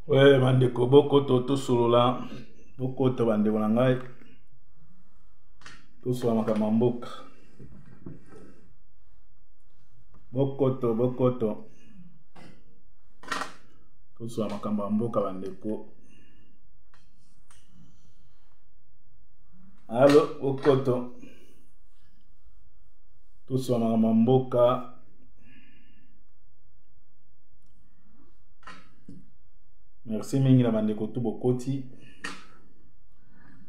oye bandeko bokoto tosolola bokoto bandeko na ngai tosolola makambo ya mboka bokoto bokoto tosolola makambo ya mboka bandeko alo bokoto tosolola makambo ya mboka merci mingi na bandeko tu bokoti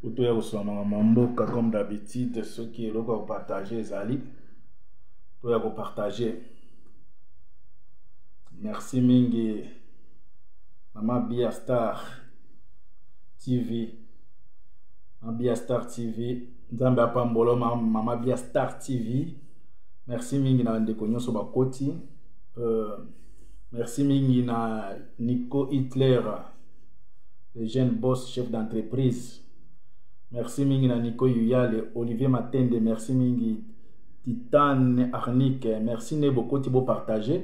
otoya kosoma makambo ya mboka comme d'habitude soki eloko ya kopartage ezali toya kopartage merci mingi mama bia star tv mama bia star tv nzambe apambola mama bia star tv merci mingi na bandeko nyonso bakoti uh, merci mingi na nico hitler le jeune boss chef d'entreprise merci mingi na nico yuyale olivier matende merci mingi titane arnique merci nde bokoti bopartage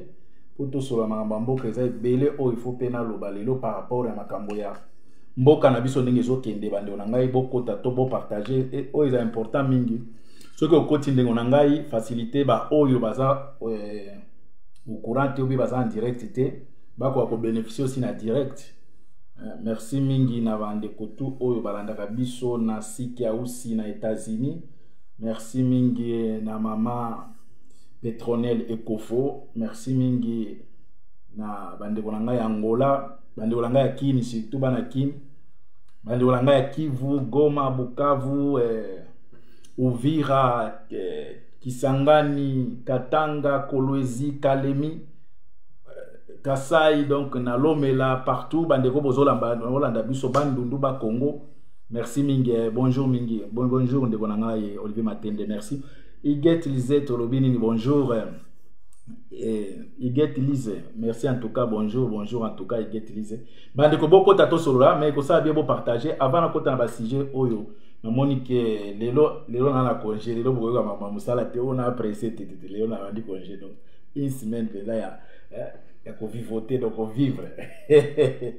mpo tosolola makambo ya mboka eza ebele oyo ifo mpe naloba lelo par rapport ya makambo ya mboka na biso ndenge ezokende bandeko na ngai bokota to bopartage oyo eza important mingi soki okoti ndeko na ngai facilité baoyo baza eh, au courant te obi baza en direct te bakoka kobénéficie aussi na direct eh, merci mingi na bandeko tu oyo balandaka biso na siki ausi na états-unis merci mingi na mama petronel ekofo merci mingi na bandeko na ngai ya angola bandeko na ngai ya kini surtout bana kini bandeko na ngai ya kivu goma bukavu eh, uvira eh, kisangani katanga kolwezi kalemi eh, kasai donc na lomela partout bandeko bozolanda biso bandundu bakongo merci mingi eh, bonjour mingi bon, bonjour ndeko na ngai olivier matende merci iget lisette olobi nini bonjour eh, iget lise merci en tout cas bonjour bonjour en tout cas iget lise bandeko bokota tosolola mais ekosala bie bopartage avant nakota na basujet oyo namoni ke lelo lelo na na congé lelo bokoyoka mama mosala te oyo na presse tetete lelo na bandi congé donc une semaine mpela ya eh, ya kovivote donc kovivre eh,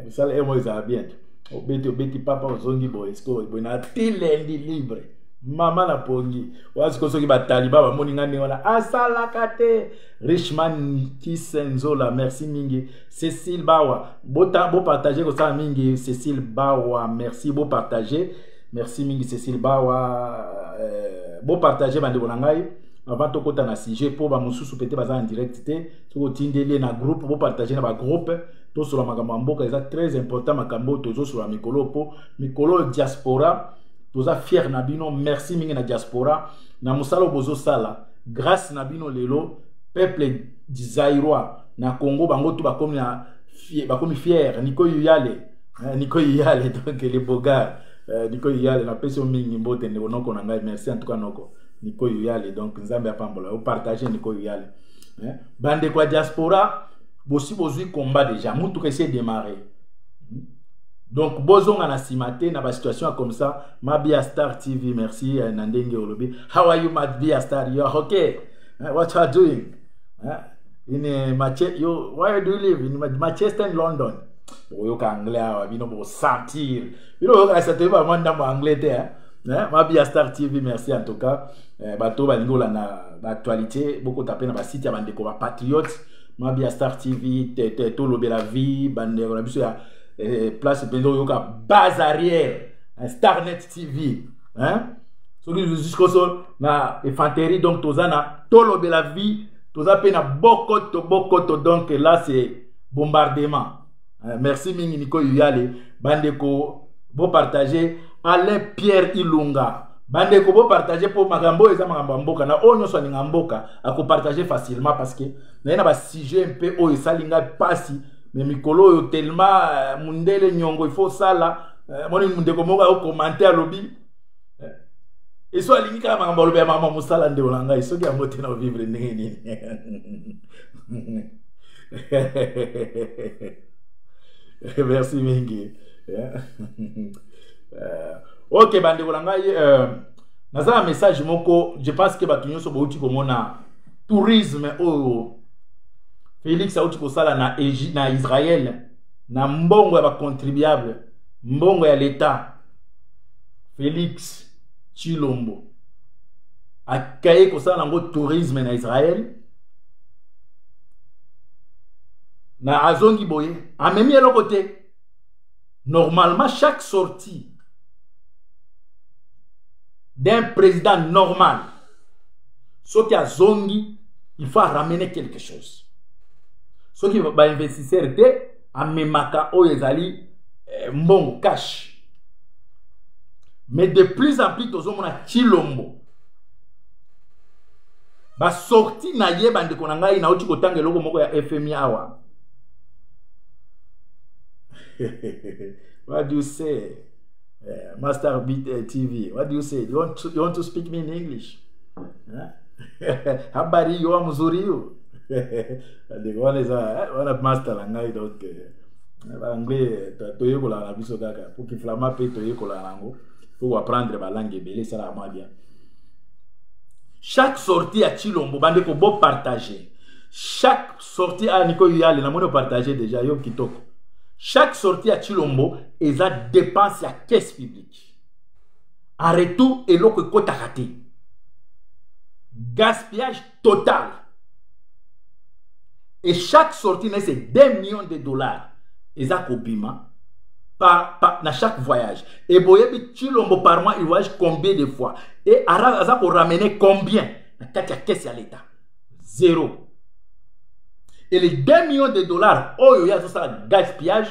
mosala emo ezala bien te obeti obeti papa ozongi boye sikoyo boye na ti lendi libre mama na pongi wana sikoyo soki bataliba bamoni ngai ndenge wana asalaka te richman kisenzola merci mingi Cécile Bawa, bota bo partager ko ça mingi Cécile Bawa, merci bo partager. Merci mingi Cécile Bawa, euh, bo partager bande ko nangai avant to kota na sujet pour ba mususu peut-être baza en direct te, soko tindeli na groupe bo partager na ba groupe to sur makambo mboka eza très important makambo tozo sur mikolo po mikolo diaspora toza fier na bino merci mingi na diaspora na musala bozo sala grâce na bino lelo peuple du Zaïrois na congo bango tu bakomi na bakomi fiere niko yuyale eh, niko yuyale donc le bogar eh, niko yuyale napesi yo mingi mbote ndeko noko na ngai merci en tout cas noko niko yuyale donc nzambe apambola yo partage niko yuyale eh, bandeko ya diaspora bosi bozwi combat déjà mutuka esi edemare hmm? donc bozonga na nsima te na basituation ya comme ça mabia star tv merci na ndenge olobi how are you mabia star you are okay what you are doing eh? in eh, Mache yo where do you live in Manchester in London bokoyoka anglais awa bino bokosentir bino boyoka na satoyebi bango ndambo anglais te eh? eh? mabia star tv merci en tout cas eh, bato balingi kolanda baactualité bokota mpe na basite ya bandeko bapatriote mabia star tv tolobela vie bandeko na biso ya eh, place mpenza oyoka base arrière starnet TV hein soki jusqu'au sol na infanterie donc toza na tolobela vie toza pe na bokoto bokoto donc là c'est bombardement hein? merci mingi Nico Yuyale bandeko bo partager Alain Pierre Ilunga bandeko bo partager po makambo oyo eza makambo ya mboka na oyo nyonso alinga mboka akopartage facilement parce que naye na basujet mpe oyo esali ngai mpasi me mikolo oyo telema eh, mundele nyongo ifo osala eh, moni ndeko moko ayo komante alobi eh, eso alingi kaka makambo alobi ya mama mosala ndeko na ngai soki yango te na ovivre ndenge nini merci mingi eh, ok bandeko na ngai naza na message moko je pense ke bato nyonso bouti komona tourisme oyo felix auti kosala na, na israele na mbongo ya bacontribuable mbongo ya leta felix chilombo akaye kosala yango tourisme na israel na azongi boye amemi eloko te normalement chaque sortie d'un président normal soki azongi il faut aramener quelque chose soki bainvestisseur te amemaka oyo ezali eh, mbongo cash mais de plus en plus tozomona chilombo basorti na ye bandeko na ngai nauti kotanga eloko moko ya fmi awa what do you say eh, Master Beat eh, TV, what do you say? You want to, you want to speak me in English? Huh? Habari yo mzuri yo. Ndeko wana eza wana eh, master na ngai donc baanglais toyekolaka na biso kaka po kiflama mpe toyekolaka nango po koapprendre balangue ebele esalaka mwa bien chaque sortie ya chilombo bandeko bopartage chaque sortie aya niko yale namoni opartage deja yo kitoko chaque sortie ya chilombo eza dépense ya caisse publique en retour eloko ekotaka te gaspillage total et chaque sortie na se 2 millions de dollars eza kobima par, par, na chaque voyage et boyebi chilombo par mois il voyage combien de fois et aza koramener combien na kati ya caisse ya l'état zero et les 2 millions de dollars oyo ye azosala gaspillage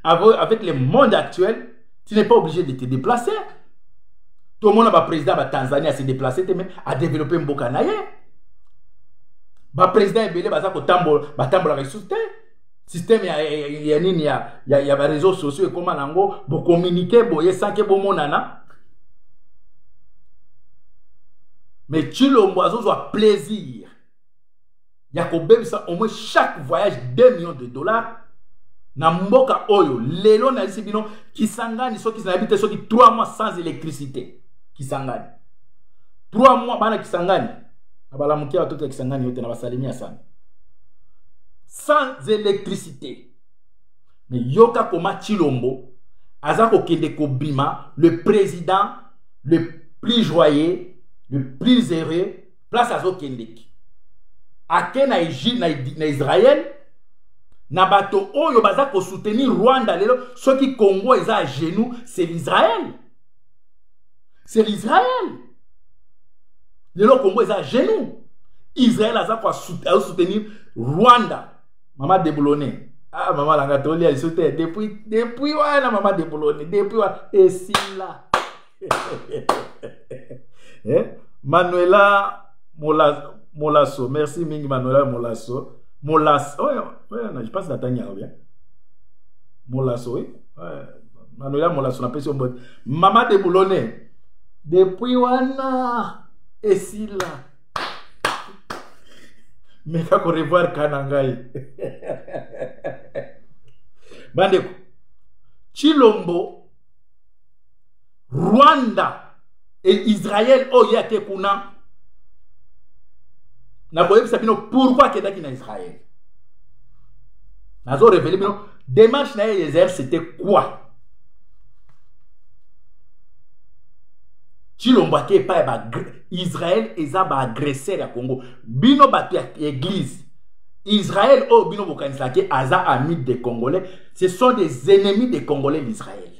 avec le monde actuel tu n'es pas obligé de te déplacer tomona baprésident ya batanzanie ase déplace te me adéveloppe mboka na ye baprésident ebele baza kotambola batambolaka lisusu te système ya, ya, ya nini ya, ya, ya bareseau sociaux ekóma na yango bokominike boye sanke bomonana me tshilombo azozwa plaisir ya kobebisa au moins chaque voyage 2 millions de dollars na mboka oyo lelo nayebisi bino kisangani soki nayebi te soki 3 mois sans électricité kisangani 3 mois bana kisangani na balamuki ya batoto ya kisangani yo te na basalemi ya sami sans électricité mais yoka koma chilombo aza kokende kobima le président le plus joyeux le plus heureux place azokendeki ake na egile na israel na bato oyo baza kosoutenir rwanda lelo soki congo eza ya genou c'est l'israel c'est l'israël lelo congo eza genou israël aza kosoutenir rwanda mama deboulone ah mama langa tolia liso te depuis depuis wana mama deboulone depuis wana esila eh? manuela mola, molaso merci mingi manuela molaso molas oh, yeah, oh, yeah, je pense natangi yango bien molaso oui ouais. mano ya molaso napesi yo mbote mama de boulone depuis wana esila meka korevoir ka na ngai bandeko chilombo rwanda et Israël oyo oh, ye ake kuna nakoyebisa bino pourkui akendaki na Israël nazo revele bino démarche na ye Israël c'était quoi cilombo ake epai ya israel eza baagresseur ya congo bino bato ya église israel oyo oh, bino bokanisaki aza amide de congolais ce sont des ennemis de congolais l'israël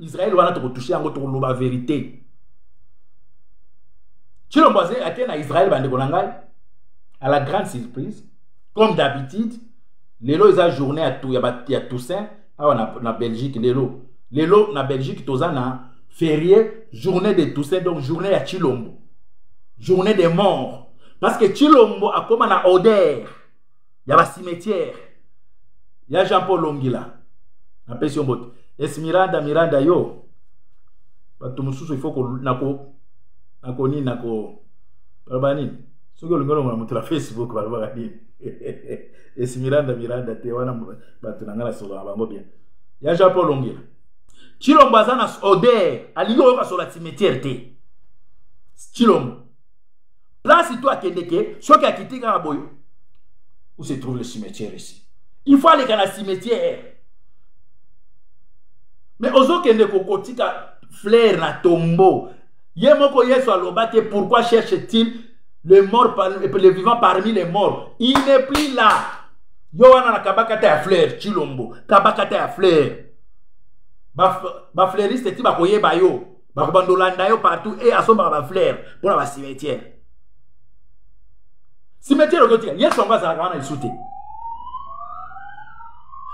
Israël wana tokotouche yango tokoloba verite Chilombo ake na Israël bandeko na ngai à la grande surprise comme d'habitude lelo eza journée ya, ya, ya Toussaint awa na, na Belgique lelo lelo na Belgique toza na férié journée de Toussaint donc journée ya Chilombo journée des morts parce que Chilombo akoma na odeur ya ba cimetière ya jean paul longila napesi yo mbote esmiranda miranda yo bato mosusu ifo nako nako nini nako baloba nini soki olingi olongola moto na facebook balobaka nini esi miranda miranda te wana bato na ngai nasolo na bango bien ya jean paul ongela cilombo aza na oder alingi oyoka sola cimetière te cilombo Place toi akendeke, soki akiti kaka boye. Où se trouve le cimetière ici? Il faut aller dans le cimetière. Mais ozo kende kokotika fleur na tombeau. Ye moko Yesu aloba te pourquoi cherche-t-il le mort le vivant parmi les morts? Il n'est plus là. Yo wana na kabakata ya fleur Chilombo, kabakata ya fleur. Ba ba fleuriste ti ba koyeba yo. bakobanda olanda yo partout e asombaka bafleur mpo na bacimetière cimetière okotika yesu yango azalaka wana lisu te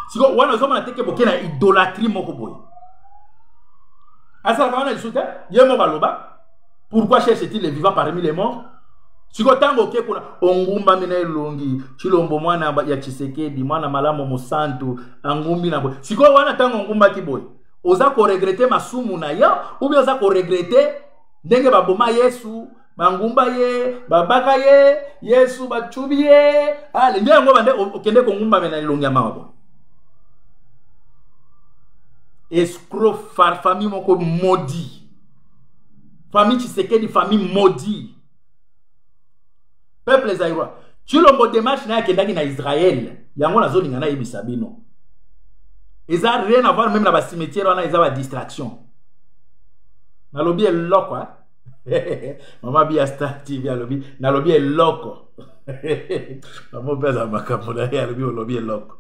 sikoyo wana ozomona teke boke na idolatrie moko boye azalaka wana lisu te ye moko aloba pourquoi cherche-t-il les vivants parmi les morts sikoyo ntango oke kuna ongumbami na elongi chilombo mwana ya tshisekedi mwana malamu mosantu angumbi na boye sikoyo wana ntango ongumbaki boye oza koregrete masumu na yo oubien oza koregrete ndenge baboma yesu bangumba ye babaka ye yesu bacubi ye ale nde yango bande okende kongumbamela elongi ya mawa boye escro famille moko modi famille tshisekedi famille modi peuple zaïrois tshilombo demarche na ye akendaki na israel yango nazolinga nayebisa bino eza rien avoir meme na bacimetiere wana eza badistraction nalobi eloko eh? mama bia star tv alobi nalobi eloko mama mpe aza makambo na ye alobi olobi eloko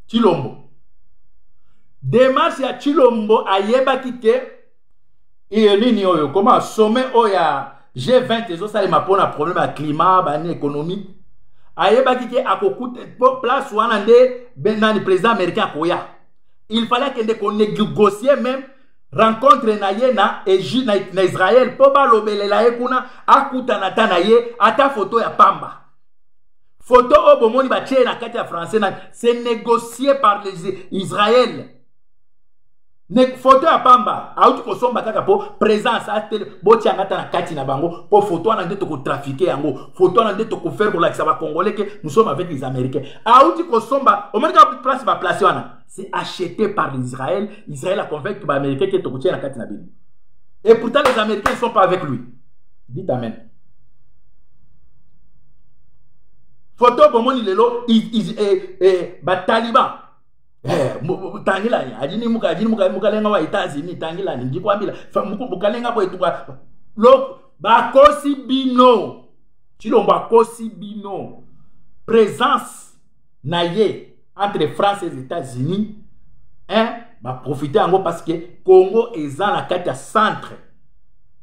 tshilombo demarche ya tshilombo ayebaki te iye nini oyo koma sommet oyo ya g20 ezosalema mpo na problème ya climat bani économie ayebaki te akokuta mpo place wana nde benani président américain akoya il fallait akende konégocier même rencontre na ye na, Egi, na, na israel mpo balobelela ye kuna akutana ata na ye ata foto ya pamba foto oyo bomoni batie na kati ya français na se négocier par les israel ne foto ya pamba auti kosomba kaka mpo présence atele botia yanga ata na kati na bango mpo foto wana nde tokotrafike yango foto wana nde tokofaire kolakisa bacongolais ke nous sommes avec les américains auti kosomba omoni kaka place baplace wana c'est acheté par l'israël israël aconvaincre baaméricain ke tokotia na kati na bino et pourtant les américains ne sont pas avec lui dit amen foto bomoni lelo eh, eh, bataliban Eh, tangilani adini muka adini muka mukalenga wa États-Unis tangilani ndikwambila muku mukalenga bo etuka lo bakosi bino chilombo akosi bino présence na ye entre France et États-Unis hein baprofite yango parce que Congo eza na kati ya centre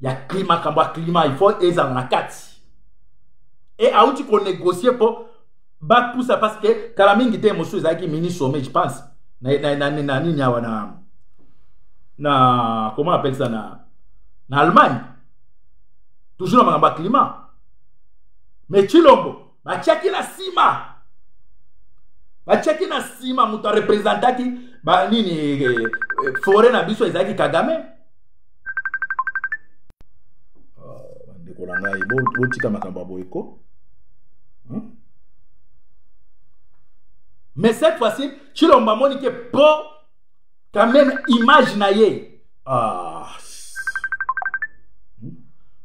ya climat kambo ya climat il faut ezala na kati e auti konégocier mpo bapusa parce que kala mingi te mosusu ezalaki mini sommet je pense na, na, na, na, na nini awa na na comment appelle ça na na allemagne toujours na makambo ya climat mais chilombo batiaki na nsima batiaki na nsima moto arepresentaki banini eh, eh, foret na biso ezalaki kagame bandeko na ngai botika makambo ya boye ko hmm? mais cette fois-ci tshilomba amoni ke po quand même image na ye ah. Hmm?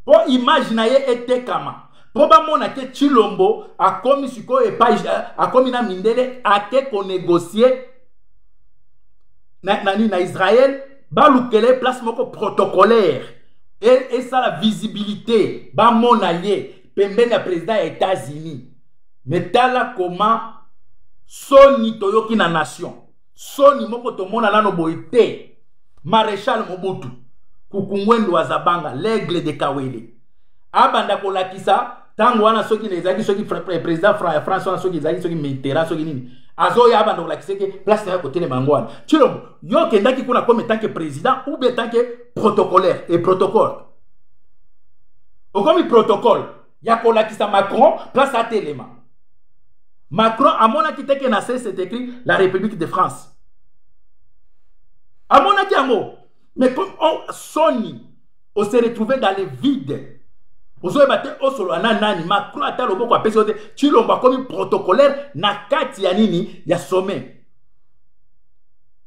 po image na ye etekama mpo bamona te tshilombo akomi sikoyo epai eh, akomi na mindele ake konegocie na nini na israele balukela ye place moko protocolaire esala visibilité bamona ye pembeni ya président ya états-unis me tala koma soni toyoki na nation soni moko tomona nano boye te maréchal mobutu kukungwendo azabanga l'aigle de kawele abanda kolakisa ntango wana soki ezalaki soki président ya france wana soki ezalaki soki mitera soki nini azoya abanda kolakisa eke place na ya kotelema yango wana cilombo yo okendaki kuna comme etanke président ou bien etanke protocolaire e protocole okomi protocole ya kolakisa macron place atelema macron amonaki te ke na se c'est écrit la république de france amonaki yango mais comme oh, soni on se retrouver dans le vide ozoyeba te osolola na nani macron ata loboko apesi yo te cilombo akomi protocolaire na kati ya nini ya sommet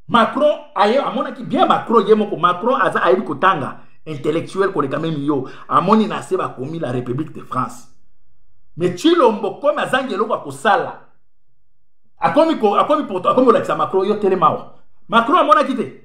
macron aye amonaki bien macron ye moko macron aza ayebi kotanga intellectuel koleka meme yo amoni na se bakomi la république de france mais cilombo komi azangi eloko ya kosala akomi akomi akomi kolakisa macron yo telemawa macron amonaki te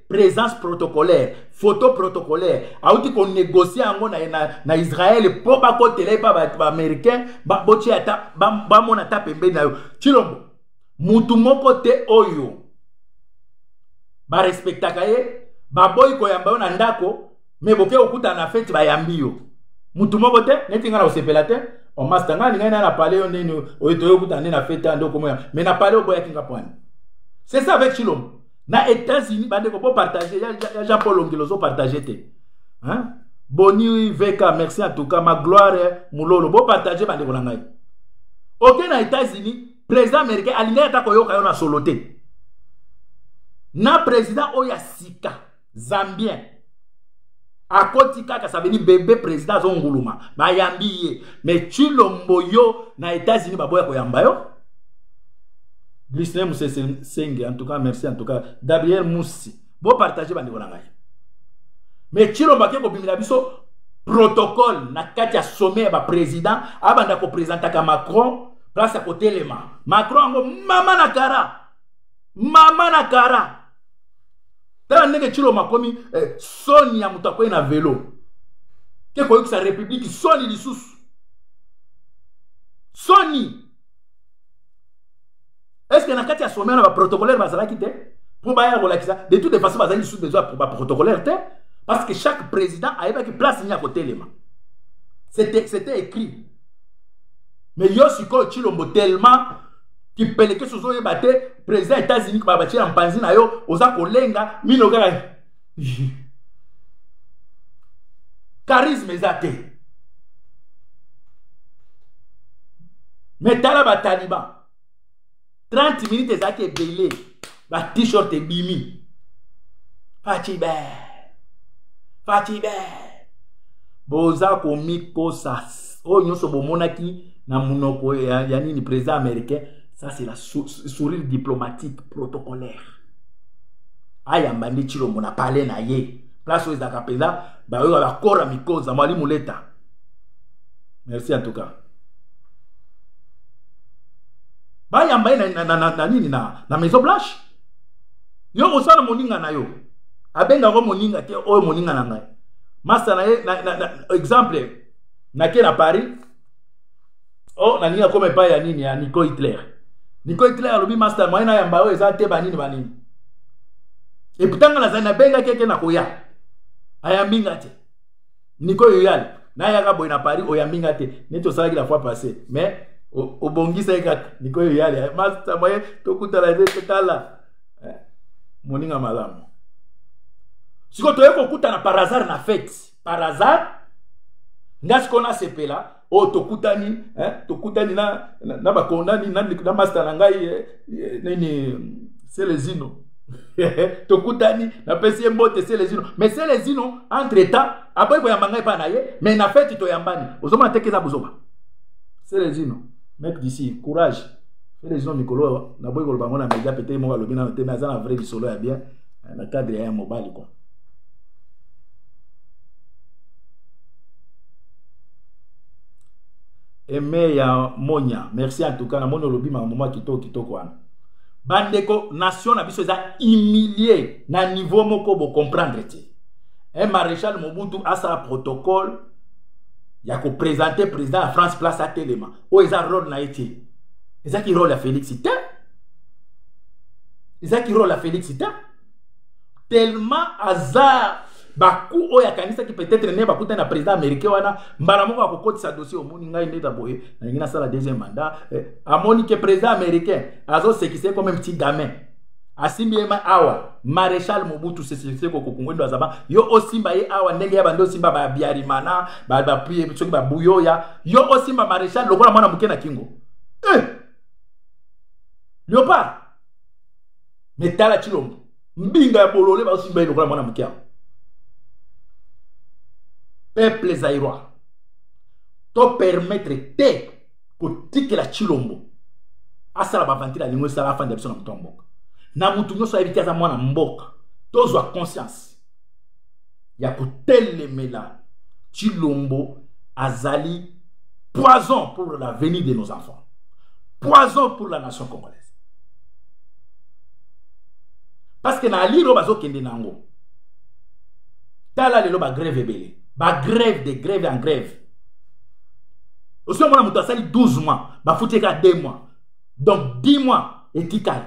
présence protocolaire photo protocolaire auti konégocie yango na, na, na israel mpo bakotela ye mpa baaméricain ba botye ata bamona ata pembeni na yo cilombo motu moko te oyo barespektaka ye baboyi koyamba yo na ndako me boke okutana na feti bayambi yo mutu moko te neti ngai na kosepela te omasta ngai alingai naye na pale yo ndeni oyo toye okutana nde na feti ande okomoya me na pale oboyaki nga pwani c'est ça avec chilombo na états-unis bandeko bopartage ya, ya, ya jean paul ongelo ozopartage te hein? boni vk merci en tout cas ma gloire mulolo bopartage bandeko na ngai oke na états-unis président américain alingaki ata koyoka yo na solo te na président oyo ya sika zambien akoti kaka sabeli bebe président azonguluma bayambi ye mais cilombo yo na états-unis baboya koyamba yo glisne musesenge en tout cas merci en tout cas gabriel musi bopartage bandeko na ngai mais cilombo ake kobimela biso protocole na kati ya sommet ya baprésident abanda kopresentaka macron place ya kotelema macron yango mama na kara mama na kara tala ndenge ciloma akomi eh, soni ya moto akwei na velo te koyokisa republiki soni lisusu soni estce na kati ya sommet na baprotocolaire bazalaki te mpo baya kolakisa de toute façon bazali lisusu besoin ya baprotocolaire te parce que chaque président ayebaki place nini ya kotelema c'était écrit mais yo sikoyo cilombo tellement kipelekesi ozoyeba te président ya états-unis babatie na mpanzi na yo oza kolenga mino kaka charisme eza te me tala bataliban 30 minutes ezalaki ebele ba t-shirt ebimi faci be faci be boza komikosa oyo oh, nyonso bomonaki na monoko ya, ya nini président américain ça c'est la sou, sourire diplomatique protocolaire ayamba nde cilombo na pale na ye place oyo ezalaka mpenza baoyo bakora mikoza mwali moleta merci en tout cas bayamba ye na, na, na, na nini na, na maison blanche yo osala moninga na yo abengako moninga te oyo moninga na ngai masta na ye na, na, na, exemple nake na paris o oh, nalingi akoma epai ya nini ya nico hitler nico hitler alobi masta moyen ayamba oyo eza te banini banini eputanga nazali nabengaki eke nakoya ayambi nga te niko yoyal nayaka boye na paris oyambi nga te neti osalaki la fois passé mais obongisaki kaka niko yoyal eh, masta moye tokutana te totala eh, moninga malamu sikoyo toye kokutana par hasard na fete par hasard nga sikoyo nasepela oyo tokutani eh, tokutani na, na, na bakondani na, na masta na ngai eh, eh, nini selezino tokutani napesi ye mbote selezino me selezino entre temps aboyi koyamba ngai epai na ye me na feti toyambani ozomona teke eza bozoba selezino mek disi courage selezino mikolo naboyi koloba yango na media pete moko alobi nano te me aza na vrai lisolo ya bien eh, na cadre ya ya mobali kua eme ya monya merci en tout cas namoni olobi makambo mwa kitoko kitoko wana bandeko nation na biso eza humilie na niveau moko bocomprendre te e maréchal mobutu asala protocole ya kopresente président ya france place atelema oyo eza role na ye te ezaki role ya félix te ezaki role ya félix te tellement aza baku oyo akanisaki peut-être ne bakutani na président américain wana mbala moko akokotisa dossier omoni ngai nde taboye nalingi nasala deuxième mandat eh, amoni ke président américain azosekise comme petit gamin asimbi ye awa maréchal mobutu seseko kokungwendo azaba yo osimba ye awa ndenge ya bande osimba babiarimana soki babuyoya yo osimba maréchal lokola mwana moke na kingo eh! leopard me tala tshilombo mbinga ya bolole bazosimba ye lokola mwana moke yango peuple zairois to permettre te kotikela tshilombo asala bavantile alingo esala afanda biso na moto ya mboka na motu nyonso ayebi te aza mwana mboka tozwa conscience ya kotelemela chilombo azali poison pour l'avenir de nos enfants poison pour la nation congolaise parce que na alire oyo bazokende na yango tala lelo bagrève ebele bagrève de grève en grève osi omona moto asali 12 mois bafuti ye kaka 2 mois donc 10 mois etikali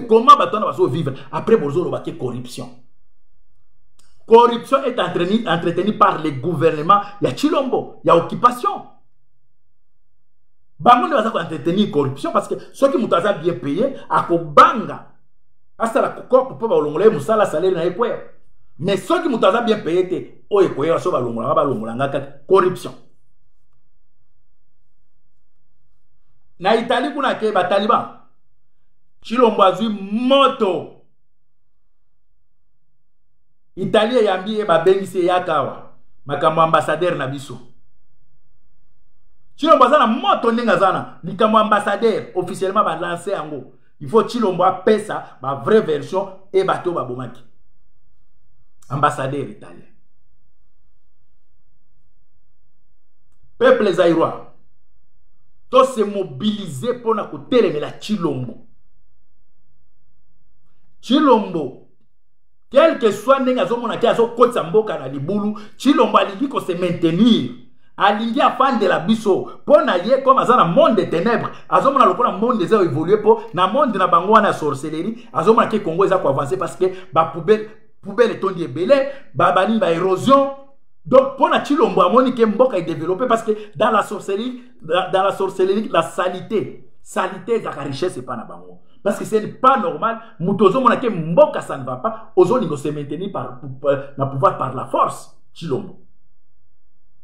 comment bato wana bazovivre après bozoloba ke corruption corruption est entretenu, entretenu par le gouvernement ya chilombo ya occupation bango nde baza koentretenir corruption parce que soki moto aza bien paye akobanga asala kokope mpo balongola ye mosala salele na ye kwea mais soki moto aza bien paye te oyo ekoyeba so balongolaka balongolanga kaka corruption na itali kuna ke bataliban chilombo azwi moto italie eyambi ye babengisi eyaka awa makambo ya ambasadere na biso chilombo aza na moto ndenge aza na likambo ya ambasadere officiellement balanse yango il faut tshilombo apesa ba vraie version e bato oyo babomaki ambassadeur italien peuple zairois tose mobilize mpo na kotelemela tshilombo tshilombo quelque soit ndenge azomona te azokotisa mboka na libulu chilombo alingi kose maintenir alingi afandela biso mpo na ye comme aza na monde de ténèbre azomona lokola monde eza évolue mpo na monde na bango wana ya sorcellerie azomona ke congo eza koavance parce que bapoubele poubele etondi ebele babaningi baérosion donc mpo na chilombo amoni ke mboka edeveloppe parce que dans la sorcellerie dans la sorcellerie la salite salite ezalaka richesse epai na bango parce que c'est pas normal moto ozomona ke mboka ça ne va pas ozolinga se maintenir par, par, na pouvoir par la force chilombo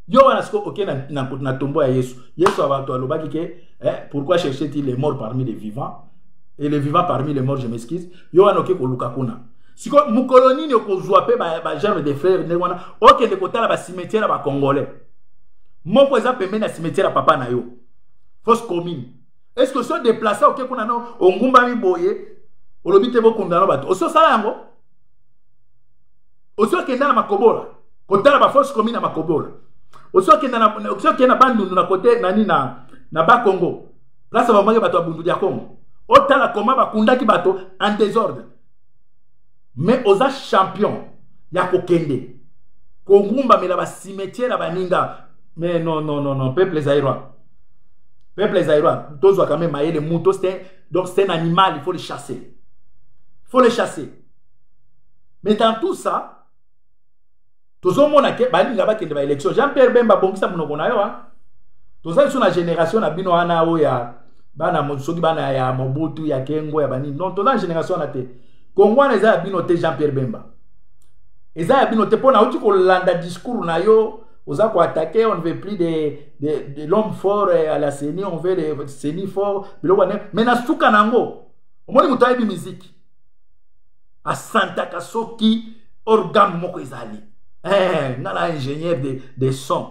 yo wana sikoyo oke na, na, na tombo ya yesu yesu abato alobaki ke eh, pourquoi chercher t les morts parmi les vivants et les vivants parmi les morts je m'excuse yo wana oke koluka kuna sikoyo mokolo nini okozwa mpe bagerme ba de frere ndenge wana okende kotala bacimetiere ya bacongolais moko eza pembeni na cimetière ya papa na yo fausse commune est ce que so déplace oke kuna no ongumbami boye olobi te bokunda no bato osi osala yango osi okenda na makobola kotala bafausse commune na makobola osi okenda na bandundu na kote nani na, na bakongo place bamaki bato ya bundu ya kongo otala koma bakundaki bato en désordre mais oza champion ya kokende kogumbamela bacimetiere ya baninga mais non non non non peuple zaïrois peuple zaïrois tozwa quand même mayele moto donc c'est un animal il faut le chasser il faut le chasser mais dans tout ça tozomona ke balinga bakende ba élection jean pierre bemba bongisa monoko na yo a toza lisusu na génération na bino wana oyo ya bana soki bana ya mobutu ya kengo ya banini donc toza na génération wana te kongo wana eza ya bino te jean pierre bemba eza ya bino te mpo nauti kolanda discours na yo oza koatake on ne veut plus de, de, de l'homme fort euh, à la ceni on veut le ceni fort biloko wana mais na suka na yango omoni moto ayebi miziki asantaka soki organe moko ezali eh, nga na ingénieur de, de son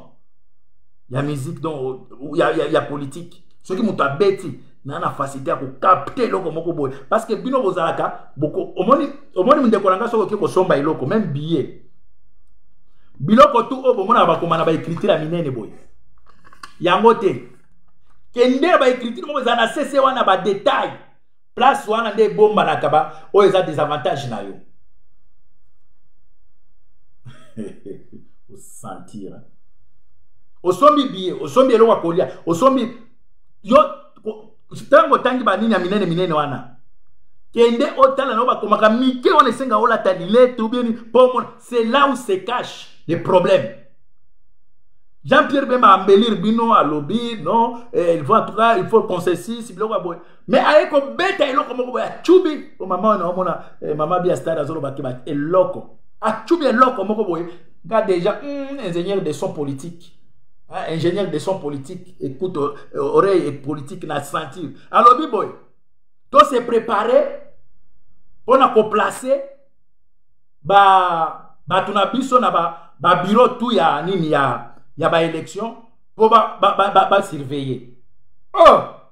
ya musique donc ya, ya, ya politique soki moto abeti na na facilité ya kokapte eloko moko boye parce que bino bozalaka omoni omoni mindeko na ngai soki oke kosomba eloko meme billet biloko tu oyo bomonaka bakoma na baekritire ya minene boye yango te kende baekritire moko eza na sese wana badetail place wana nde ebombanaka ba oyo eza desavantage na yo osentir osombi biye osombi eloko ya kolia osombi yo ntango otangi banini ya minene minene wana kende otala na yo bakomaka mike wana esenga olata lilete obieni mpo omona c'est là où se cache le problème jean pierre bemba ambelir bino alobi non eh, il faut en tout cas il faut concessis biloko ya boye me aye kobeta eloko moko boye acubi o mama wana omona eh, mama bia stade azoloba te eloko acubi eloko moko boye nga déjà mm, ingénieur de son politique hein, ingénieur de son politique écoute euh, oreille et politique na sentir alobi boye to se préparer mpona koplace ba bato na biso na ba, ba bureau tout ya nini ya ya ba élection mpo ba, ba, ba, ba, ba surveiller oh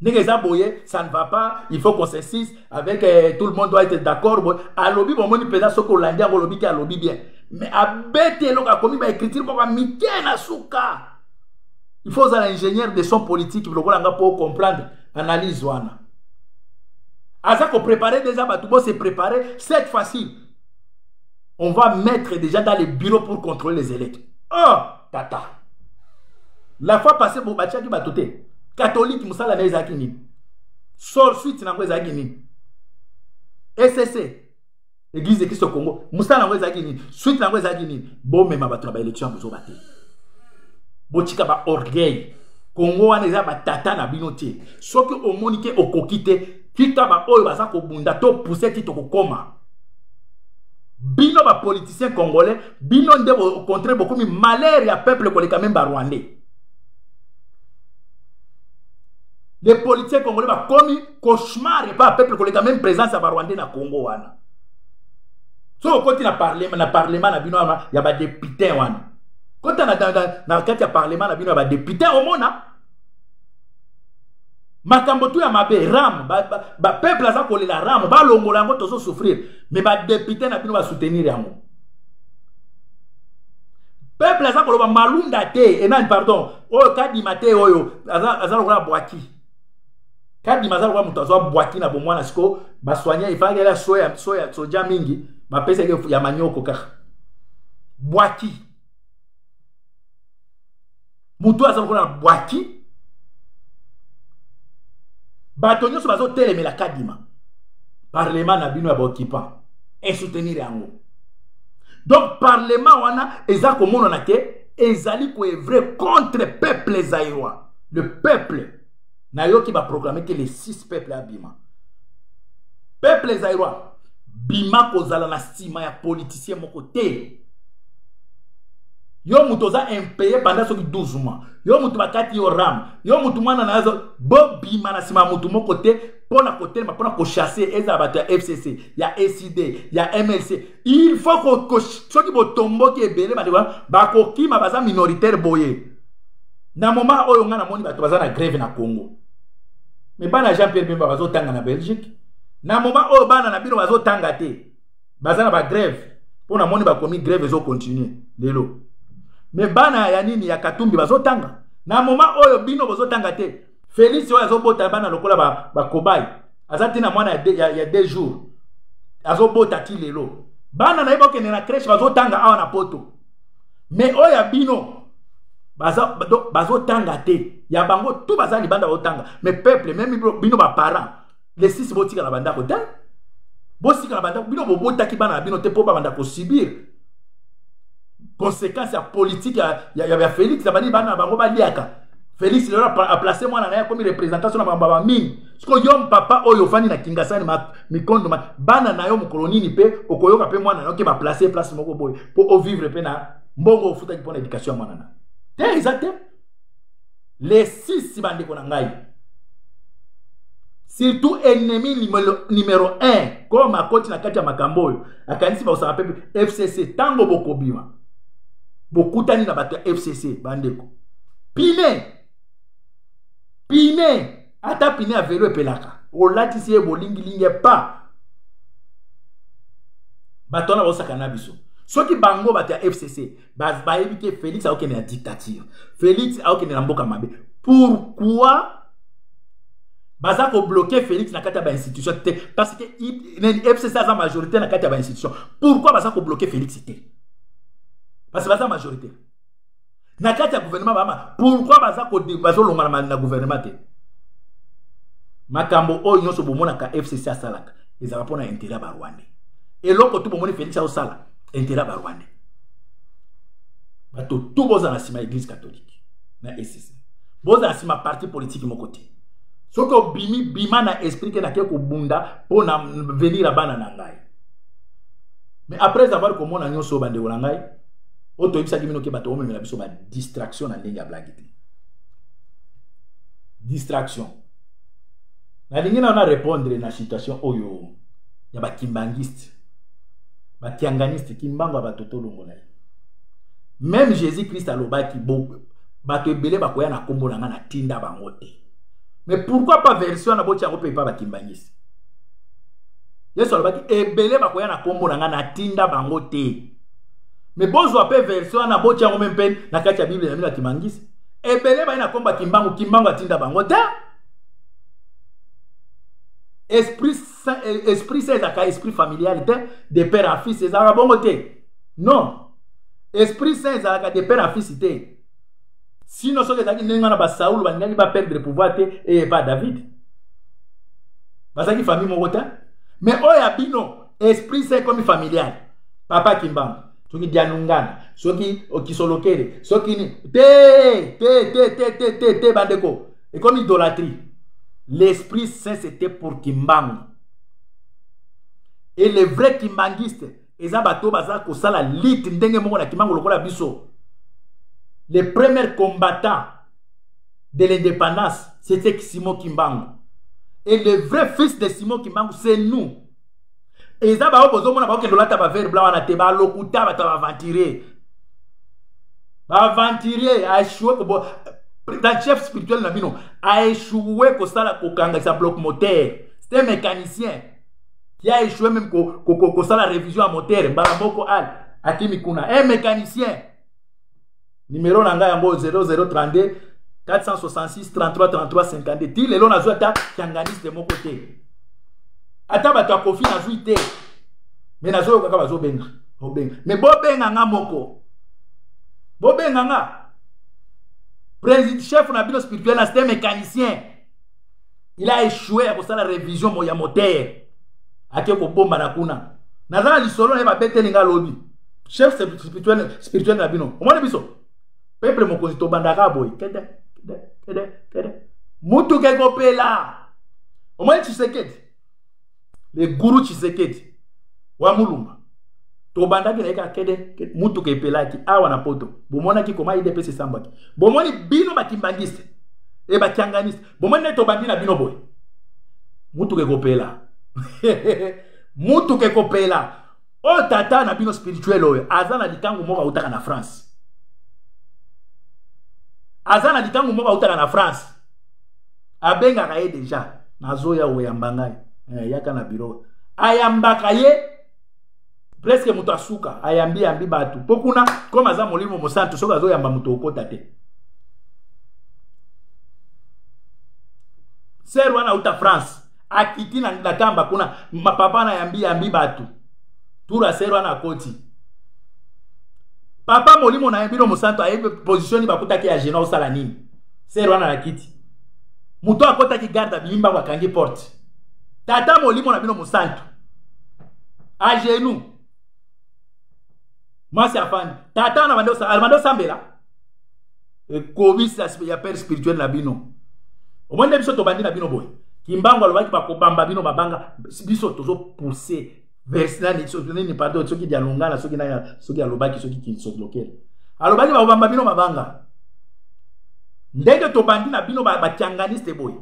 ndenge eza boye ça ne va pas il faut consensus avec eh, tout le monde doit être d'accord boye alobi bomoni mpenza soki olandi yango olobi te alobi bien mais abeti eloko akomi baécriture moko mike na suka il faut ozala ingénieur de son politique lokola nga mpo ocomprendre analyse wana aza koprépare déjà bato bo se préparer cette fois-ci on va mettre déjà dans les bureaux pour contrôler les électeurs oh! tata la fois passé bo batiaki bato te katolike mosala na ye ezalaki nini sor suite na yango ezalaki nini ecc église de kristo congo mosala yango ezalaki nini suite na yango ezalaki nini bomema bato na baélection ya bozoba te botika baorgueil kongo wana eza batata na bino te soki omoni te okoki te tika baoyo baza kobunda topuse ti tokokoma bino bapoliticien congolais bino nde au contraire bokomi malheur ya peuple koleka meme barwandais les politiciens congolais bakomi cauchemar epa peuple koleka meme présence ya barwandais na congo wana soki okoti na parlement na parlement na bino ya badepute wana kota na kati ya parlement na bino ya badepute omona makambo tu ya mabe ram bapeuple ba, ba aza kolela ram balongola yango tozosouffrir me badepute na bino basoutenir yango peuple aza koloba malunda te enani pardon oyo kadima te oyo aza, aza lokola bwaki kadima aza lokola moto azwa bwaki na bomwana siko basoigne efalaki ala soya, soya soja mingi bapesaki ya manyoko kaka bwaki moto oyo aza lokola na bwaki bato nyonso bazotelemela kadima parlema na bino ya baoccupant esoutenir yango donc parlema wana eza komonana ke ezali koevre contre peuple zairois le peuple nayoki baprograme te le 6 peuple abima peuple zairoi bima kozala na nsima ya politicien moko te yo moto oza impeye banda soki 12 mois yo moto bakati yo ram yo moto mwana na yo bobima na nsima ya moto moko te mpo na kotelema mpo na kochasse ezala bato ya fcc ya ecd ya mlc il faut ko, ko soki botomboki ebele bandeko bakokima baza minoritaire boye na moment oyo ngai namoni bato baza na grève na congo me bana jean pierre bemba bazotanga na belgique na moment oyo bana na bino bazotanga te baza na bagrève mpo namoni bakomi grève ezokontinue lelo me bana ya nini ya katumbi bazotanga na moment oyo bino bozotanga te felix oyo azobota bana lokola bakobai ba aza ntina mwana ya, de, ya, ya deux jours azobota ti lelo bana na ye bakende na crèche bazotanga awa na poto me oyo ya bino bazotanga te ya bango tu baza libanda baotanga me peuple meme bino baparent le 6 botika na bandako te bosika na bandako bino bobotaki bana na bino te mpo babanda kosibir conséquence ya politike ya, ya, ya, ya félix abandi bana na bango baliaka félix lelo aplace mwana na ye akomi représentation na bango baba mingi siko yo mpapa oyo ofandi na kingasani mikondo ma bana na yo mokolo nini mpe okoyoka mpe mwana na yo ke baplace place moko boye mpo ovivre mpe na mbongo ofutaki mpo na éducation ya mwana na te eza te le 6 bandeko na ngai surtout ennemi numero 1 comme akoti na kati ya makambo oyo akanisi bakosaka mpe fcc ntango bokobima bokutani na bato ya fcc bandeko pine pine ata pine ya velo epelaka olatisi ye bolingilingi epa bato wana baosaka na biso soki bango bato ya fcc bayebi te félix akokende na dictature félix akokende na mboka mabe pourquoi baza kobloke félix na kati ya bainstitution te parce que fcc aza majorité na kati ya bainstitution pourquoi baza kobloke félix te parce que baza majorité na kati ya gouvernement bama pourkui baza bazolongana na gouvernement te makambo oyo nyonso bomonaka fcc asalaka ezalaka mpo na intérêt ya barwande eloko tu bomoni félix aosala intérêt ya barwande bato tu bozala nsima ya eglise catholique na ecc bozala nsima parti politiki moko te soki obimi bima na esprit ke nake kobunda mpo na venir ya bana na ngai mais après avoir komona nyonso oyo bandeko na ngai oyo toyebisaki bino ke bato omemela biso badistraction na ndenge ya blage te distraction nalingi nao na répondre na situation oyo ya bakimbangiste bakianganiste kimbangu abato tolongola ye meme jésus christ alobaki bato ebele bakoya na nkombo na ngai natinda bango te mais pourquoi pas version wana botya yango mpe epa bakimbangisi yesu alobaki ebele bakoya na nkombo na ngai natinda bango te mais bozwa mpe version wana botya yango mpe mpe na kati ya biblia na bino akimangisi ebele baye na nkombo ya kimbangu kimbangu atinda bango te esprit eh, esprit sa ezalaka esprit familial te de père à fils ezalaka bongo te non esprit saint ezalaka de père à fils te sino soki ezalaki ndenge wana basaul balingaki baperdre pouvoir te eye epa david bazalaki famille moko te mais oyo ya bino esprit saint ekomi familial papa kimbangu soki dianungana soki okisolokele soki ni te te te te te te te bandeko ekomi idolatrie l'esprit saint c'était pour kimbangu et les vrais kimbanguistes eza bato baza kosala lite ndenge moko na kimbangu lokola biso le premier combattant de l'indépendance c'était simon kimbangu et le vrai fils de simon kimbangu c'est nous eza baoyo bozomona bakokende olata bavere bla wana te balokuta bato ya baventurier baventurier aechue président chef spirituel na bino aechue kosala kokangisa bloc moteur cest mécanicien qui a échoué même kosala ko, ko, ko, révision ya moteur mbala moko al akimi kuna e mécanicien Numéro na ngai yango 0032 466 33 33 52. Ti lelo nazwa ata kianganiste moko te. Ata bato ya kofi nazwi te. Mais nazoyoka kaka bazobenga. Bobenga. Mais bobenga nga moko. Bobenga nga. Président chef na bino spirituel na c'était mécanicien. il a échoué ya kosala révision mo ya motere ake kobomba na kuna naza na lisolo na ye babeteli nga lobi chef spirituel spirituel na bino omoni biso peuple mokonzi tobandaka boye kede kede kede kede mutuka ekopela omoni tshisekedi le guru tshisekedi wa mulumba tobandaki na ye kaka kede mutuka epelaki awa na poto bomonaki koma idps esambwaki bomoni bino bakimbangiste e bakianganiste bomoni nde tobandi na bino boye mutuka ekopela mutuka ekopela oyo tata na bino spirituel oyo aza na likangu moko autaka na france aza na likangu moko autaka na france abengaka ye deja nazoya oyamba ngai eh, yaka na biro ayambaka ye preske moto asuka ayambi yambi bato mpo kuna koma aza molimo mosantu soki azoyamba moto okota te ser wana auta france akiti na, na tamba kuna papa na yambi yambi bato tura sero wana akoti papa molimo na ye bino mosantu ayebi position nini bakutaki ya gena osala nini sero wana na kiti moto akotaki garde abimi mbango akangi porte tata molimo na bino mosantu agenu mwasi afandi tata wana abandi osambela ekobisa ya père spirituel na bino omoni nde biso tobandi na bino boye kimbangu alobaki bakobamba bino mabanga biso tozopousse vers nani nini pardon soki dialongala soki nani soki alobaki soki kinsokilokele alobaki bakobamba bino mabanga ndenge tobandi na bino bakianganiste boye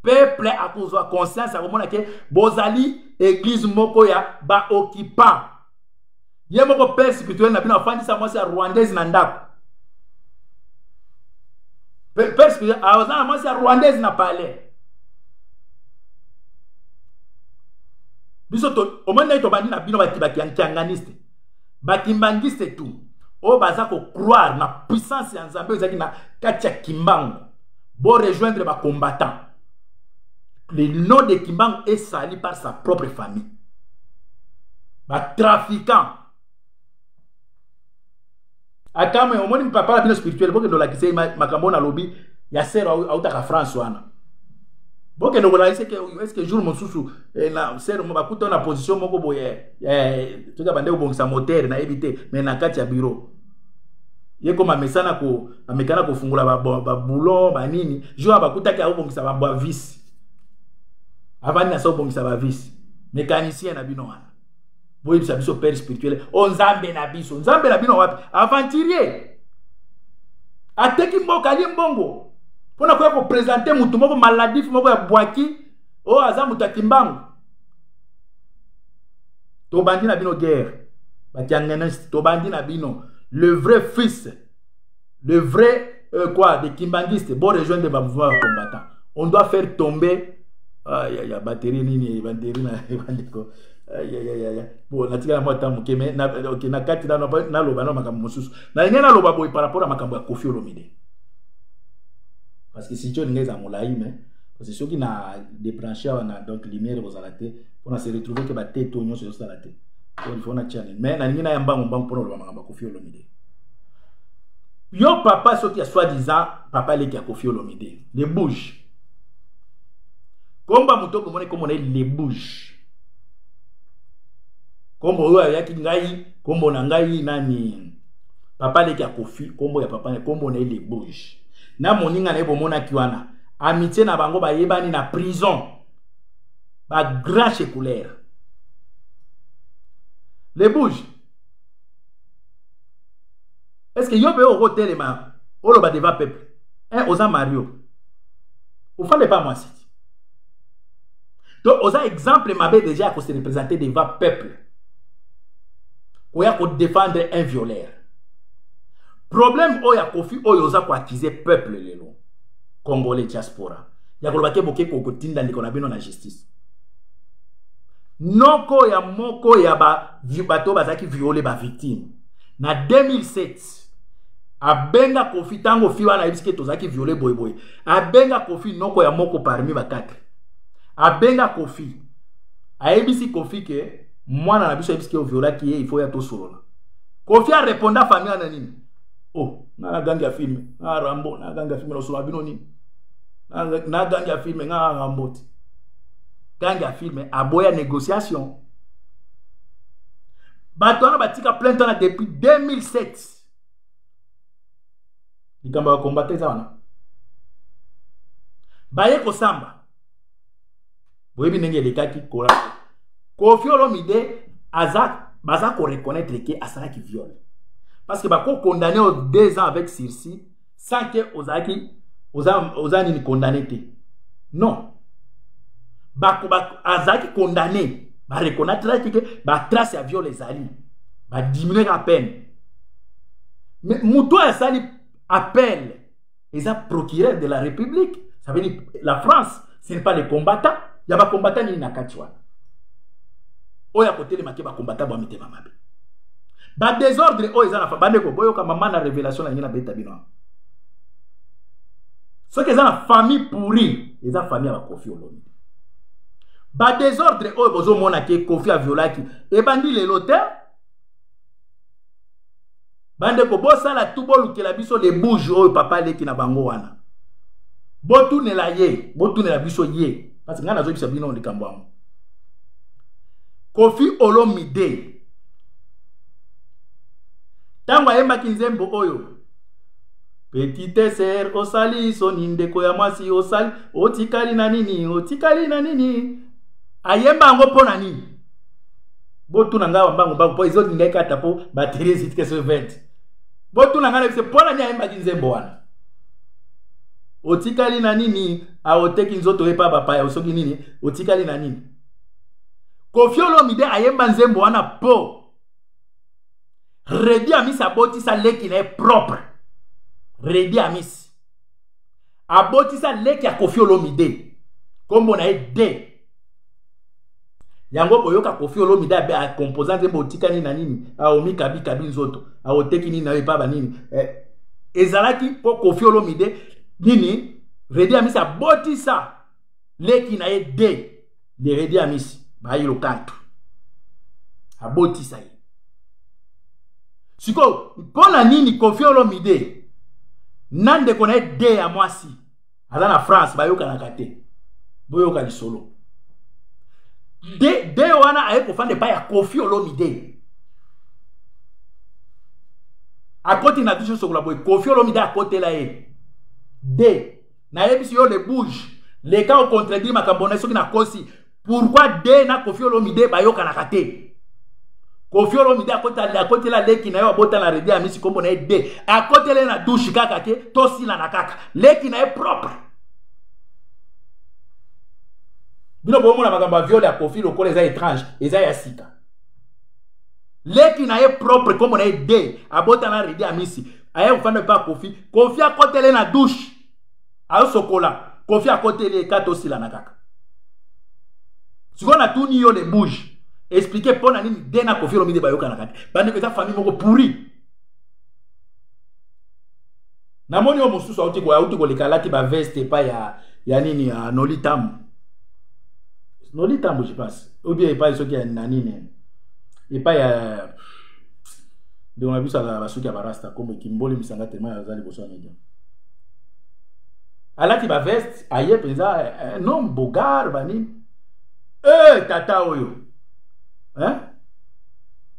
peuple akozwa conscience akomona ke bozali eglise moko ya baoccupant ye moko père spirituel na bino afandisa mwasi ya rwandaise na ndako père spirituel aza na mwasi ya rwandaise na palais biso omoni ndenge tobandi na bino bakianganiste bakimbangiste tu oyo baza kocroire na puissance ya nzambe ezalaki na kati ya kimbango borejoindre bacombattant le nom de kimbangu est sali par sa propre famille batrafiquant akamwe omoni papa na bino spirituel bokende olakisa ye makambo oyo nalobi ya ser autaka france wana bokende kolakisa eske jour mosusu eh, na ser bakuta na position moko boye eh, toza bande kobongisa motere nayebi te mais na kati ya bureau ye koma mesana ko bamekana kofungola baboulon banini jour ya bakutaki akobongisa bavisi avandi na se obongisa bavisi mécanicien na bino wana boyebisa biso père spirituel o oh, nzambe na biso nzambe na bino wapi aventurier ateki mboka alie mbongo mpo na koya kopresente motu moko maladif moko ya bwaki oyo oh, aza moto ya kimbangu tobandi na bino guerre bakiangeneste tobandi na bino le vrai fils le vrai euh, quoi des kimbanguistes bon rejoindre ba mouvement ya combattant on doit faire tomber ah, ya, ya batterie nini batterie na bandeko po natikala mwa ntango moke me okay, na kati naloba na makambo mosusu nalingi naloba boye par rapport ya makambo ya kofi olomide parce que sitio elingi eza molai me parce que soki na débranche awa na donc lumière ekozala te mpo na se retrouve ke bateto nyonso ezosala te po lifo na tiani me nalingi naya mbango mbango mpo na oloba makambo ya kofi olomide yo papa soki ya soit disant papa leki ya kofi olomide le bouge komba moto okomona ekomona ye le bouge kombo oyo ayaki ngai kombo na ngai nani papa leki ya kofi kombo ya papa kombo na ye le bouge na moninga na ye bomonaki wana amitie na bango bayebani na prison bagrand checoulere le bouge est ce que yo mpe okotelema oloba deva peuple e eh, oza mario ofande pa mwasi ti to oza exemple mabe deja ya kose représente deva peuple koya kodefendre un violeur problème oyo ya kofi oyo oza koakize peuple lelo congolais diaspora ya koloba te boke kotinda ndeko na bino na justice noko ya moko ya ba bato oyo bazalaki viole bavictime na 2007 abenga kofi ntango fi wana ayebisi ke tozalaki viole boyeboye abenga kofi noko ya moko parmi bakatre abenga kofi ayebisi kofi ke mwana na biso ayebisi ke oviolaki ye ifo ya tosolola kofi areponda fami wana nini o oh, nga nagangi ya filme nga rambo nagangi ya filme nosolola bino nini nagangi ya filme nga rambo te gangi ya filme aboya négociation bato wana batika plainte wana depuis 2007 likambo ya kombata eza wana baye kosamba boyebi ndenge elekaki kola kofi olomide aza baza koreconnaitre ke asalaki viole parce que bakokondane o deux ans avec sursis sans que ozalaki oza, oza nini condamné te non azalaki condamné bareconnaitraki ke batrace ya viole ezali badiminueka apene mais moto oyo asali appel eza procureur de la république ça veut dire la france ce n'est pas les combattants ya ba combattants nini na kati wana oyo akotelema te ba combattants bwa mitema mabe ba désordre oyo eza na fa bandeko boyoka mama na révélation na ngi na beta bino soki eza na famille pourri eza famille ya bakofi olomide badésordre oyo bozomona ke kofi aviolaki ebandi lelo te bandeko bosala tu bolukela biso le bouge oyo papa aleki na bango wana botunela ye botunela biso ye parce ngai nazoyebisa bino likambo yango kofi olomide ntango ayembaki nzembo oyo petite ser osali soni ndeko ya mwasi osali otikali na nini otikali na nini ayemba yango mpo na nini botuna ngai bambango bango mpo ezoti ngai kata mpo batele eziti ke so 20 botuna ngai na biso mpo na nini ayembaki nzembo wana otikali na nini aoteki nzoto epa bapaya osoki nini otikali na nini kofi olomide ayemba nzembo wana po redi amisi abotisa leki na ye propre redi amisi abotisa leki ya kofi olomide nkombo na ye de yango boyoka kofi olomide akompoza nzembo otikani na nini aomikabikabi nzoto aoteki nini nayo epaba nini eh, ezalaki mpo kofi olomide nini redi amisi abotisa leki na ye de deredi amisi bayi lokantu abotisa ye sikoyo mpo na nini kofi olomide na ndeko na ye de ya mwasi aza na france bayokanaka te boyoka lisolo de, de wana aye kofanda epai ya kofi olomide akoti na biso sokola boye kofi olomide akotela ye de nayebisi yo le bouge leka ocontredire makambo na soki nakosi pourkui de na kofi olomide bayokanaka te kofi olomide akotela leki na ye abota na redi amisi nkombo na ye de akotela ye na dushe kaka te tosilana kaka leki na ye propre bino bomona makambo ya viole ya kofi lokola eza étrange eza ya sika leki na ye propre nkombo na ye de abota na redi amisi aye kofanda epa kofi kofi akotele na douche ayosokola kofi akoteli eka tosilana kaka sikoyo natuni yo le bouge explike mpo na nini de na kofi olomide bayokanaka te bandeko eza famille moko pourri namoni oyo mosusu auti auti koleka alati baveste epai ya, ya nini ya noli tambo noli tambo je pense obie epai soki ya na nini epai ya ndeko na biso azala basuki ya barasta kombe kimboli misanga tema ya azali liboso ya media alati baveste aye mpenza eh, eh, nom bogar banini e tata oyo eh?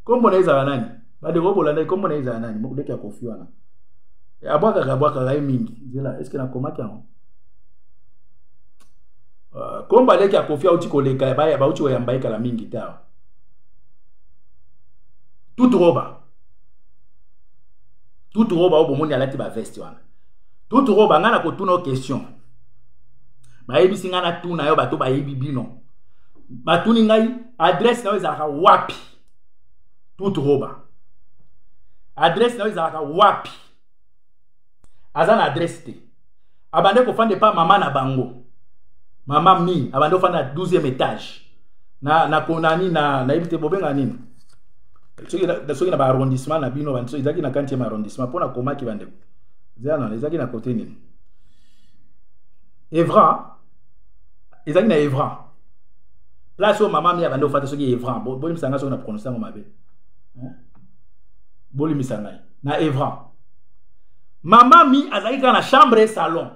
kombo na ezala nani bandeko bolandaki kombo na ezala nani mokuleki ya kofi wana abwakaka abwakaka ye mingi nzela eske nakomaki yango kombo aleki ya kofi auti koleka bauti koyamba ye kala mingi te awa tutu roba tutu roba oyo bomoni alati baveste wana tutu roba ngai nakotuna yo question bayebisi ngai natuna yo bato bayebi bino batuni ngai adresse na yo ezalaka wapi tutu roba adresse na yo ezalaka wapi aza na adresse te abande kofanda epa mama na bango mama mi abande kofanda na 12e étage na na konani na nayebi te bobenga nini soki na baarrondissement na bino banso ezalaki na 40e arrondissement mpo na komaki bandeko ezalana ezalaki na kote nini evra ezalaki na evra place oyo mama mi abande kofanda soki evra boyebisa ngai soki na prononce yango mabe bolimbisa ngai na evran mama mi azalaki kaka na chambre salon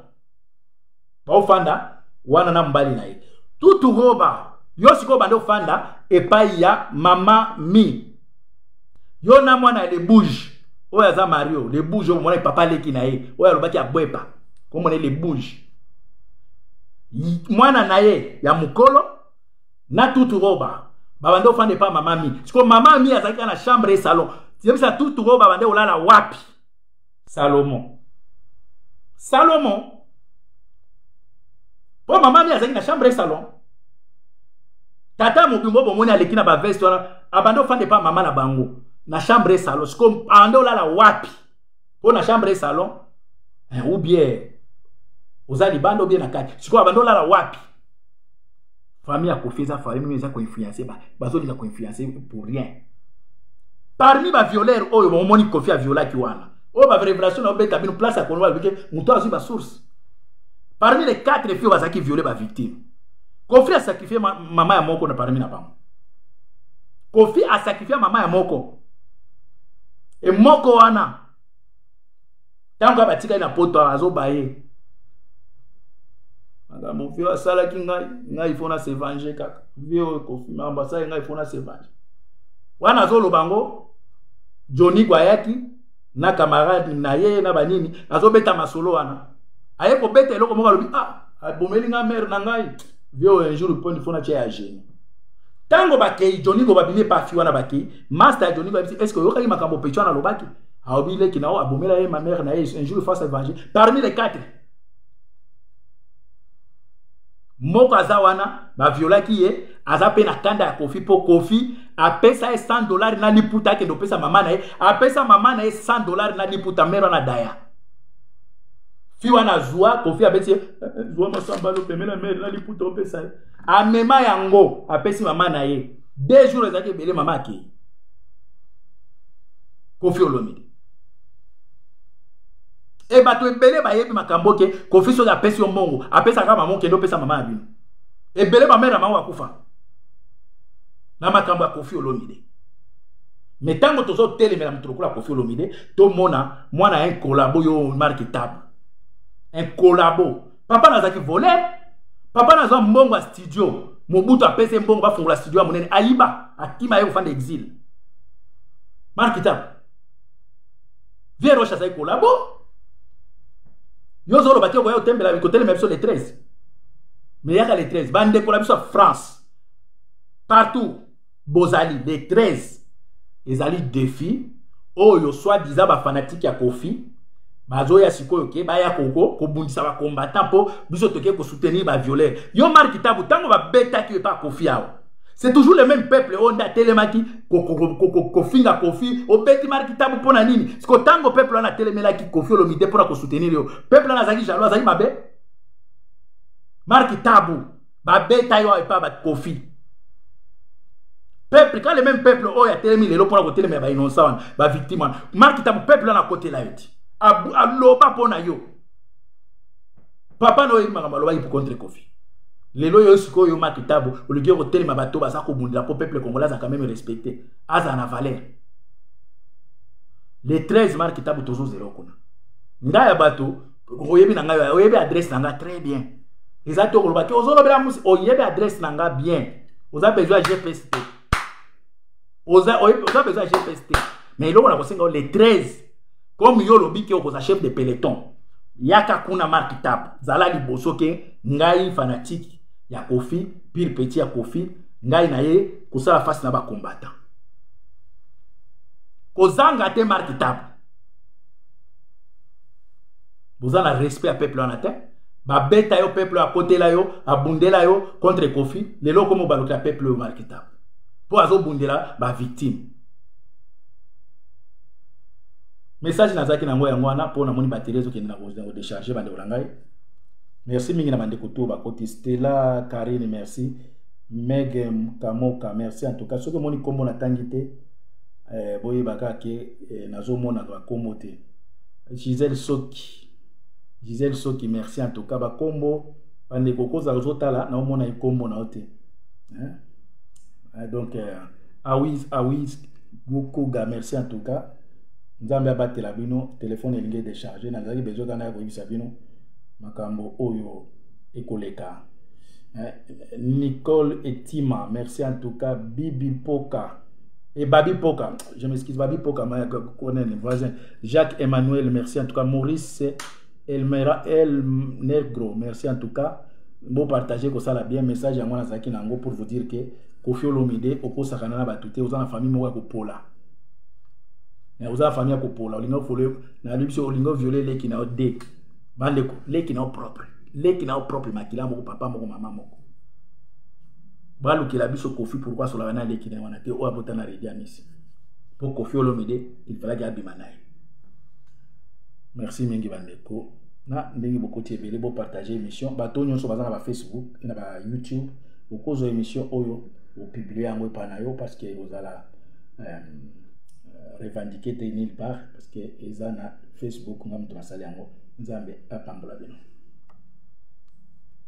baofanda wana na mobali na ye tutu roba yo sikoyo banda ofanda epai ya mama mi yo na mwana ya lebouge oyo aza mario lebouge oyo omonaki papa aleki na ye oyo alobaki abwepa komona ye lebouge mwana na ye ya mokolo na tutu roba babande ofanda epa mama mi sikoyo mama mi azalaki kaka na chambre ye salon yebisa tutu roba babande olala wapi salomo salomo mpo mama mi azalaki na chambre ye salon tata mobimbo bomoni aleki na baveste wana abande ofanda epa mama na bango na chambre ye salon sikoyo abande olala wapi mpo na chambre salon eh, ou bien oza libanda obie na kati sikoyo abanda olala wapi famille ya kofi eza famille mino eza koinfluence bazolika koinfluence pour rien parmi bavioleur oyo bomoni kofi aviolaki wana oyo barevelation naobeta bino place ya konoba bike moto azwi basource parmi les quatre filles oyo bazalaki viole bavictime kofi asacrifie mama ya moko na parmi na bango kofi asacrifie mama ya moko e moko wana ntango kaka batikali na poto azoba ye makambo vio asalaki ngai ngai fo na se venger kaka vio ekofi makambo asali ngai fo na se venger wana azoloba yango joni gwayaki na camarade na ye na banini azobeta masolo wana aye kobeta eloko moko alobi ah abomeli ngai mare na ngai vio un jour poni fo na tia ya genie ntango bakei joni go babimi epafi wana bakei Master ya Johnny Babisi, est-ce que oyokaki makambo Pechuan alobaki? Aobi leki na yo abomela ye ma mère na ye un jour face à venger parmi les quatre. Moko aza wana ba violaki ye, aza pe na kanda ya Kofi po Kofi apesa ye 100 dollars na liputa akende opesa mama na ye, apesa mama na ye 100 dollars na liputa mère na daya. fi wana azwa kofi abeti ye eh, eh, zwa masamba lopemela mere na liputa opesa ye amema yango apesi mama na ye deux jours ezalaki ebele mama akei kofi olomide e bato ebele bayebi makambo ke kofi soki apesi yo mbongo apesaka mama okende opesa mama ya bino ebele bamere na bango akufa na makambo ya kofi olomide me ntango tozotelemela moto lokola kofi olomide tomona mwana ya inkolabo yo marke table inkolabo papa nazalaki voler papa nazwa mbongo ya studio mobutu apese mbongo bafungola studio ya monene ayiba akima ye kofanda exile markita vie roche azali kolabo yo ozoloba te okoya kotembela kotelema biso le 13 me yaka le 13 bandeko na biso ya france partout bozali le 13 ezali defi oyo soit disant bafanatike ya kofi bazoya sikoyo ke baya kobundisa ko bacombattant mpo biso toke kosoutenir baviolere yo marki tabu ntango babetaki yo epa kofi awa c'est toujours le même peuple oyo nde atelemaki kofinga kofi obeti marki tabu mpo na nini siko ntango peuple wana atelemelaki kofi olomide mpo na kosoutenir yo peuple wana azalaki jaloux azalaki mabe marki tabu babeta yo epa ba kofi peuple quand le même peuple oyo atelemi lelo mpona kotelemela bainonsa wana bavictime wana mark tabu peuple wana akotela yo ti aloba mpo na yo papa na oyebi makambo alobaki mpo contre kofi lelo yo sikoyo yo mark tabu oluki yo kotelema bato baza kobundela mpo peuple congolais azalaka meme respecte azala na valeur le 13 mark tabu tozozela okuna ngai ya bato oyebi na ngai oyebi adresse na ngai très bien eza te okoloba te ozolobela musi oyebi adresse na ngai bien oza besoin ya gps te oza besoin ya gps te mais eloko na kosenga le 13 comme yo olobi ke okoza chef de peloton yaka kuna mark tap zala liboso ke ngai fanatique ya kofi pire petit ya kofi ngai na ye kosala face na bacombattant kozanga te mark tap boza na respect ya peuple wana te babeta yo peuple oyo akotela yo abundela yo contre kofi lelo okomi obalukela peuple oyo marketable mpo azobundela bavictime message nazalaki na yango yango wana mpo namoni batele ezokende na kodecharge bandeko na ngai merci mingi na bandeko to bakoti stela karine merci mege kamoka merci en tout cas soki omoni nkombo natangi te eh, boyeba kaka ke eh, nazomonaka bakombo te gisele soki gisele soki merci en tout cas bakombo bandeko koza ozotala naomona ekombo nao te eh? eh donc eh, awis awis gokoga merci en tout cas nzambe abatela bino telefone elingi decharge nazalaki bezoka naye koyebisa bino makambo oyo ekoleka eh, Nicole Etima merci en tout cas Bibi Poka et Babi Poka je m'excuse Babi Poka ma connaît voisin Jacques Emmanuel merci en tout cas Maurice Elmera El Negro merci en tout cas bon partager ko ça la bien message à moi nazaki nango pour vous dire que Kofi Olomide okosakana na bato te oza na famille moko ya kopola oza na famille ya kopola olingi ofole na libiso olingi oviole leki na yo de bandeko leki na yo propre leki na yo propre makila moko papa moko mama moko balukela biso kofi pourkui asolaka na leki na ye wana te oyo abota na redi amisi mpo kofi olomide ilfalaki abima na ye merci mingi bandeko na ndenge bokoti ebele bopartage émission bato nyonso baza na bafacebook mpe na bayoutube okozwa émission oyo opiblie yango epai na yo parce que ozala euh, revendiquer te nulle part parce que eza na facebook nga moto nasali yango nzambe apambola bino